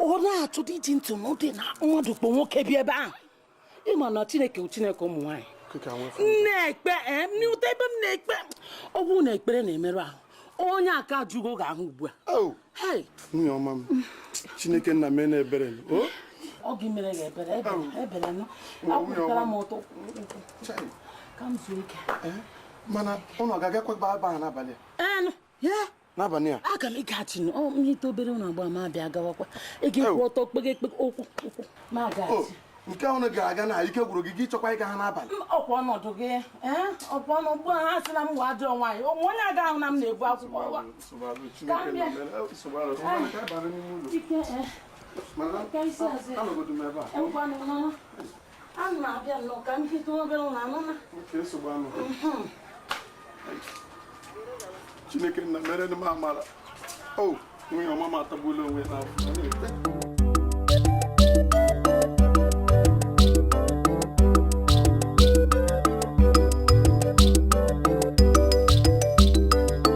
ọ na-achọ dị iji ntị n'ụdị na mmadụ kpọ nwoke bịa ebe ahụ ịma na chineke chineke ụmụ nwaanyị na-ekpe eh, n'ụta ebe m na-ekpe ọ bụrụ na ekpere na-emerụ ahụ onye aka ajụgo ga-ahụ ugbu a oh! nwunye ọma m chineke nna meenụ ebere oh! ọ gị mere ya ebere ebere nụ akwụtara m ọtọ ka m zuo ike eh? mana ụnụ ga-agakwa ebe a n'abalị a n'abalị a aga m ịgaghachi na ọ ihe ite obere ụlọ agba ma abịa gawakwa ị ga-akwụ ọtọ kpege ekpe okwu okwu ma o gaghachi nke unu ga-aga na ike gwụrụ gị gị chọkwa ịga ha n'abalị ọkwa ọnọdụ gị ee ọkwa ọnụ ugbu a ha sị na m wee ajọ nwaanyị o nwee onye ga-ahụ na m na-ebe akwa ụwa Ka m bịa. ike ee Mana ka isi azụ ya anọgodu m ebe a enwekwanụ n'ọnụ Ana m abịa nnọọ ka m jide obere ụlọ anụna. Mhm. Chineke nna meere m amara. O, oh, nwunye ọma m atagbuola onwe n'afụfụ.